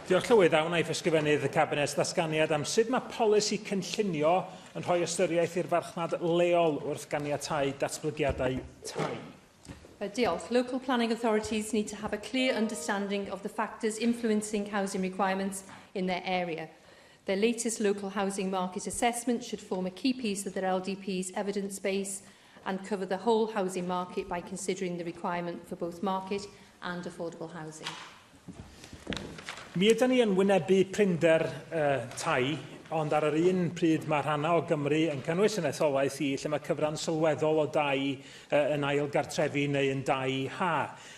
Diolch Llywydd, a wnaiff Ysgrifennydd y Cabinet ddatganiad am sut mae polisi cynllunio yn rhoi ystyriaeth i'r farchnad leol wrth ganiatáu datblygiadau tai? Uh, diolch. Local planning authorities need to have a clear understanding of the factors influencing housing requirements in their area. Their latest local housing market assessment should form a key piece of their LDP's evidence base and cover the whole housing market by considering the requirement for both market and affordable housing. Mi ydan ni yn wynebu prinder uh, tai, ond ar yr un pryd mae rhannau o Gymru yn cynnwys yn etholaeth i lle mae cyfran sylweddol o dai uh, yn ail gartrefi neu yn dai ha.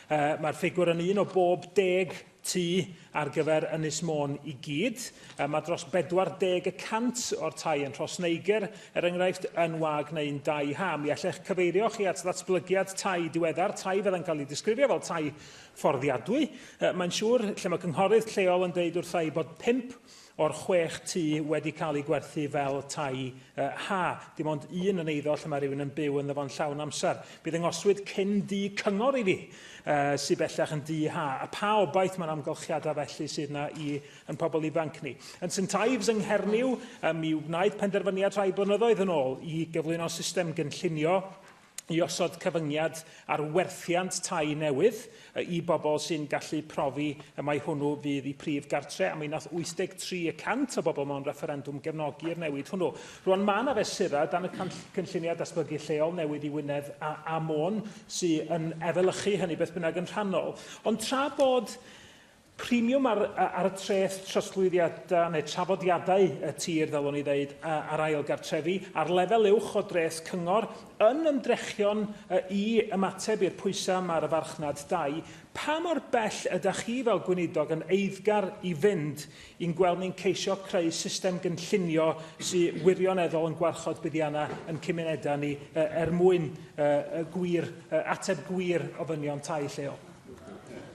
Uh, Mae'r ffigwr yn un o bob deg tŷ ar gyfer Ynys Môn i gyd. Yy, Mae dros 40 y cant o'r tai yn Rhosneigr, er enghraifft, yn wag neu'n dau ha. Mi allech cyfeirio chi at ddatblygiad tai diweddar, tai fyddai'n cael eu disgrifio fel tai fforddiadwy. Yy, Mae'n siŵr lle mae cynghorydd lleol yn dweud wrtha i bod pump o'r chwech tŷ wedi cael eu gwerthu fel tai yy ha. Dim ond un yn eiddo lle mae rhywun yn byw ynddo fo'n llawn amser. Bu ddangoswyd cyn dŷ cyngor i fi, yy, sy bellach yn dŷ ha. A pha obaith mae'r amgylchiadau felly sydd yna i yn pobl ifanc ni. Yn Saint Ives yng Nghernyw, yy, mi wnaed penderfyniad rhai blynyddoedd yn ôl i gyflwyno system gynllunio i osod cyfyngiad ar werthiant tai newydd i bobl sy'n gallu profi y mae hwnnw fydd i prif gartre, a mi wnaeth 83 y cant o bobl mewn refferendwm gefnogi'r newid hwnnw. Rwan, mae yna fesurau dan y cynlluniau datblygu lleol newydd i Wynedd a, a Môn sy'n efelychu hynny beth bynnag yn rhannol. Ond tra bod Premiwm ar, ar y treth trosglwyddiadau neu trafodiadau y tir, ddylwn i ddeud, ar ail gartrefi, ar lefel uwch o dreth cyngor, yn ymdrechion i ymateb i'r pwysau yma ar y farchnad dai. Pa mor bell ydach chi fel Gweinidog yn eiddgar i fynd i'n gweld ni'n ceisio creu system gynllunio sy'n wirioneddol yn gwarchod buddiannau yn cymunedau ni er mwyn gwir, ateb gwir ofynion tai lleol?